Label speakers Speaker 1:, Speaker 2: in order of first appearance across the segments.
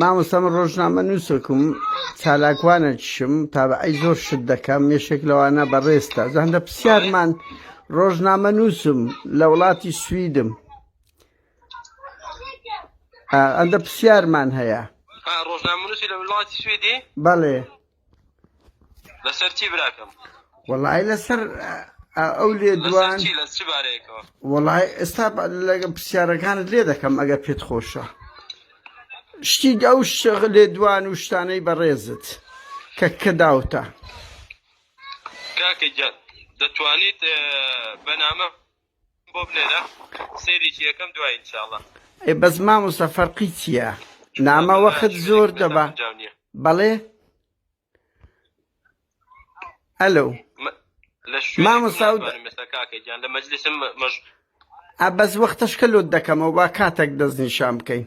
Speaker 1: مامۆستام ڕۆژنامە نووسکم چالاکوانە چشم تا بە ئەی زۆر شت دەکەم مێشێک لەوانە بەڕێستا زەندە پرسیارمان ڕۆژنامە نووسم لە وڵاتی سویدم ئەندە پرسیارمان هەیە ڕۆژنامە نووسی
Speaker 2: لە وڵاتی سویدی بەڵێ لەسەر چی براکەم وەڵی لەسەر
Speaker 1: ئەو لێ دوان
Speaker 2: وەڵی ئێستا
Speaker 1: لەگە پرسیارەکانت لێ دەکەم ئەگە پێت خۆشە شتی ئەو شغ لێ دوان و شتانەی بەڕێزت کە کە داوتە کاکە
Speaker 2: گیان دەتوانیت بەنامە بۆ بنێرە سێریکی ئەکەم دوای ان شاء اللە. ئەی بەس مامۆستا
Speaker 1: فەرقی چیە نامە وەخت زۆر دەبا بەڵێ ئەلو ئەبەس وەختەشکە لۆت دەکەمەوە با کاتێک دەستنیشان بکەین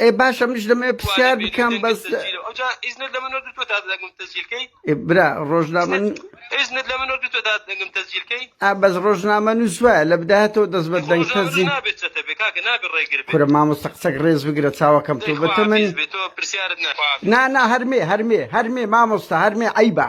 Speaker 2: ئێ باشە منیش دەمەوێ
Speaker 1: پرسیار بکەم بەس
Speaker 2: برا
Speaker 1: ڕۆژنامە
Speaker 2: ئا بەس ڕۆژنامە
Speaker 1: نووس وایە لە بداهاتەوە دەست بە دەنگ تەزی
Speaker 2: کورە مامۆستا قسەک ڕێز
Speaker 1: بگرە چاوەکەم تۆ بەتە من نا نا هەرمێ هەرمێ هەرمێ
Speaker 2: مامۆستا
Speaker 1: هەرمێ عیبە